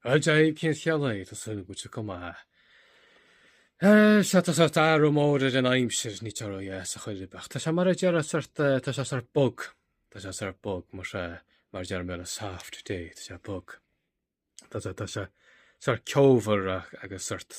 Dia daoibh cén chaoi a bhfuil sibh, tá súil agam go bhfuil sibh go maith. Eh, sea, tá sórt athrú mór ar an aimsir, níl sé róthe ar chor ar bith, ach tá sé mar a déarfá sórt, eh, tá sé sórt bog, tá sé sórt bog, mar sea, mar a déarfá i mBéarla a soft day, tá sé bog. Tá sé, tá sé sórt ceomhar ach- agus sórt,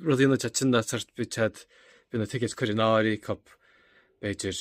Rud a dhéanfad sin ná tar beidh tá a fhios a'd beidh na tickets curtha in áirithe acu b'fhéidir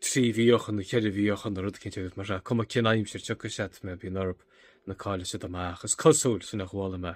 trí mhí ó shin nó ceithre mhí ó shin nó rud eicínt agus mar sin cuma cén aimsir tiocfaidh siad mar bíonn orthu nó caillfidh siad amach. Is cosúil sin a chuala mé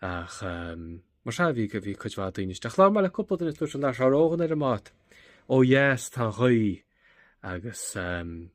ach um, mar seo bhí go bhí cuid mhaith daoine isteach. Lá mar le cúpla duine dúirt an Lars Árógan ar an mbád ó dheas atá an ghaoth agus um,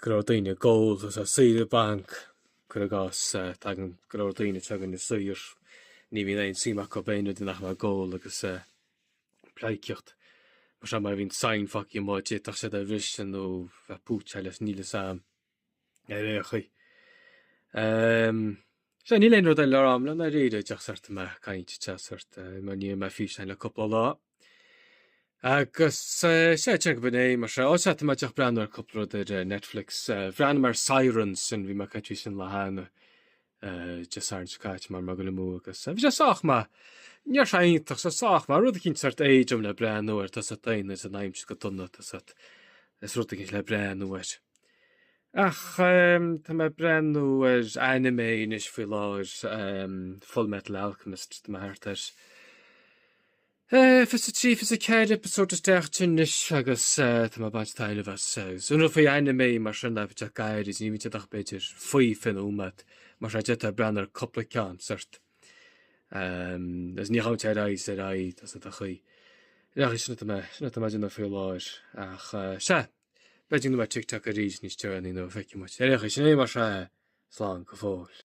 go leor daoine ag ól agus lá saoire bainc, cuir i gcás. Tagann go leor daoine chugainn ar saoire, ní bhíonn aon suim acu in aon rud ach amháin ag ól agus pleidhcíocht. Mar sin, má bhíonn sign fágthaí amuigh, d'fhéadfadh siad é a bhriseadh nó bheith púitseáilte, níl a fhios a'm. Ar aon chaoi. Ehm, sea, níl aon rud eile agam le rá i ndáiríre díreach sórt mé ag caint tá sé sórt eh, mar ní dhearna mé físeán le cúpla lá. Agus eh, sea, ceapaim gurb in é mar sin. Ó, sea, tá mé díreach ag breathnú ar cúpla rud ar eh, Netflix. eh, Bhreathnaigh mé ar Sirens sin, bhí mé ag caint faoi sin cheana. Deir Sarn Cait mar mbeadh go le mó agus bhí sé sách maith. Ní raibh sé iontach bhí sé sách maith. Rud eicínt sort éadrom le breathnú air tá a fhios a'd daoine is an aimsir go dona tá a fhios a'd is rud eicínt le breathnú air. Ach ehm tá mé ag breathnú ar anime anois faoi láthair ehm Fullmetal Alchemist tá mé thart ar. Fiche a trí, fiche a ceathair eipeasóid isteach ansin anois agus tá mé ag baint taitneamh as. Is é an rud faoi anime mar sin ná go bhfuil sé gairid, ní bhíonn siad ach b'fhéidir faoi fiche nóiméad nó mar sin, d'fhéadfá breathnú ar cúpla ceann, ceart. Agus ní ghabhann sé ar aghaidh is ar aghaidh, tá a fhios a'd an chaoi. Ach sin atá mé, sin atá mé ag déanamh faoi láthair. Ach sea, b'fhéidir go mbeidh mé ar TikTok arís níos deireanaí nó feicfidh muid. Ar aon chaoi, sin é mar sin, slán go fóill.